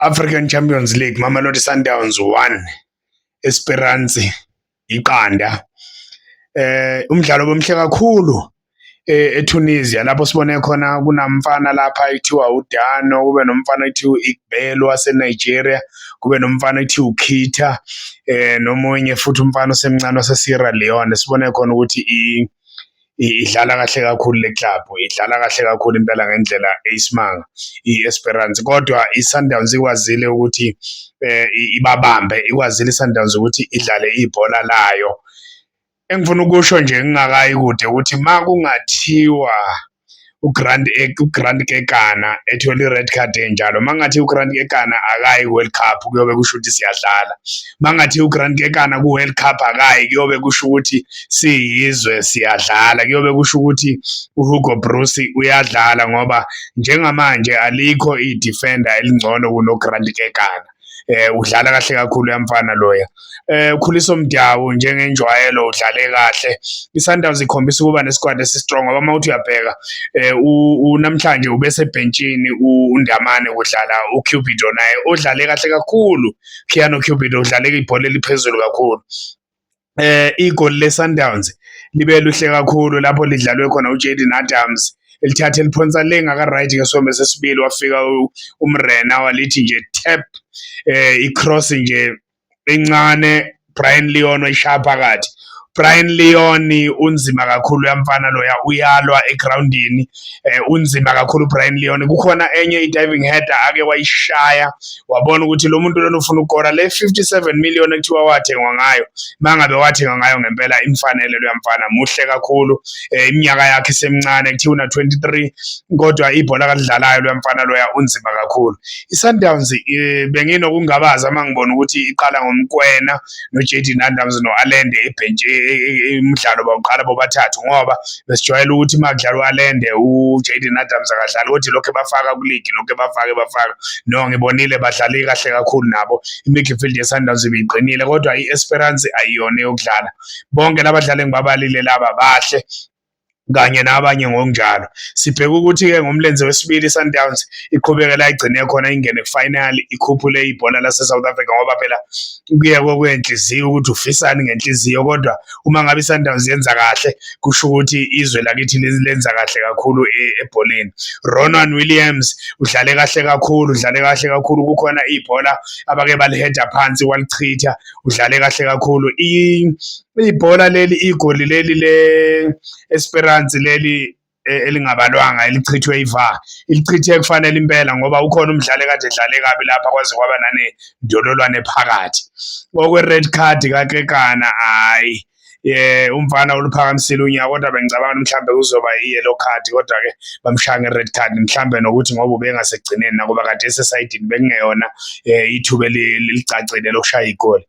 African Champions League Mamelodi Sundowns 1 Esperance iqanda eh umdlalo bomhle kakhulu eh, eTunisia lapho sibone khona kunamfana lapha ekuthiwa uDano kube nomfana ekuthiwa uIgbelo waseNigeria kube nomfana ekuthiwa uKhita eh nomunye futhi umfana osemncane waseSierra Leone sibone khona ukuthi i idlala kahle kakhulu le club idlala kahle kakhulu impela ngendlela eyisimanga i-Esperance kodwa i-Sundowns ikwazile ukuthi eh ibabambe ikwazile i-Sundowns ukuthi idlale ibhola layo engifuna ukusho nje ngingakayi kude ukuthi makungathiwa uGrant uGrant Kekana ethola i-red card enjalo mangathi uGrant Kekana akayi World Cup kuyobe kusho ukuthi siyadlala mangathi uGrant Kekana ku-World Cup akayi kuyobe kusho ukuthi siyizwe siyadlala kuyobe kusho ukuthi uHugo Broos uyadlala ngoba njengamanje alikho i-defender elingcono kunoGrant Kekana eh udlala kahle kakhulu yamfana loya eh ukhuliso mdawu njengenjwayelo udlale kahle isundowns ikhombisa ukuba nesikwadi esistrong ngoba uma uthi uyabheka eh unamhlanje ubesebhentshini undamane kudlala ucupido naye odlale kahle kakhulu khiano cupido udlale ibhola eliphezulu kakhulu eh igoli leSundowns libe luhle kakhulu lapho lidlalwe khona uJaden Adams elithathe liphonsa le ngaka right ke sombe sesibili wafika umrena walithi nje tap eh icross nje encane Brian Leon wayishaya phakathi Brian Leon unzima kakhulu yamfana loya uyalwa egroundini eh, unzima kakhulu uBrian Leon kukhona enye i-diving header ake wayishaya wabona ukuthi lo muntu lona ufuna ukukora le 57 million ekuthiwa wathengwa ngayo mangabe wathengwa ngayo ngempela imfanele lo mfana muhle kakhulu eh, iminyaka yakhe semncane kuthiwa una 23 kodwa ibhola kalidlalayo lo mfana loya unzima kakhulu iSundowns eh, benginokungabaza mangibona ukuthi iqala ngomkwena noJaden Adams no-Allende ebhentshi e, e, e, umdlalo bawuqala bobathathu ngoba besijwayele ukuthi uma kudlala u-Allende uJaden Adams akadlali kodwa lokhu ebafaka kuligi lokhu ebafake bafaka no ngibonile badlale kahle kakhulu nabo i-midfield ye-Sundowns ibiqinile kodwa i-Esperance ayiyona yokudlala bonke labadlali engibabalile laba bahle kanye nabanye ngokunjalo. Sibheke ukuthi-ke ngomlenze wesibili iSundowns iqhubeke la igcine khona ingene kufinal ikhuphule ibhola laseSouth Africa ngoba phela kuye kokwenhliziyo ukuthi ufisani ngenhliziyo kodwa uma ngabe iSundowns yenza kahle kusho ukuthi izwe lakithi lenza kahle kakhulu e, ebholeni. Ronwen Williams udlale kahle kakhulu, udlale kahle kakhulu kukhona ibhola abake baliheda phansi walichitha, udlale kahle kakhulu. ibhola leli igoli leli le Esperance leli e, elingabalwanga elichithwe iva ilichithe kufanele impela ngoba ukhona umdlali kade edlale kabi lapha kwaze kwaba nane ndololwane phakathi okwe red card kakekana hayi eh umfana oluphakamisile unyaka kodwa bengicabanga ukuthi mhlambe kuzoba i-yellow card kodwa ke bamshaya nge-red card mhlambe nokuthi ngoba ubengasekugcineni nakuba kade esesayidini bekungeyona eh, ithuba elicacile lokushaya igoli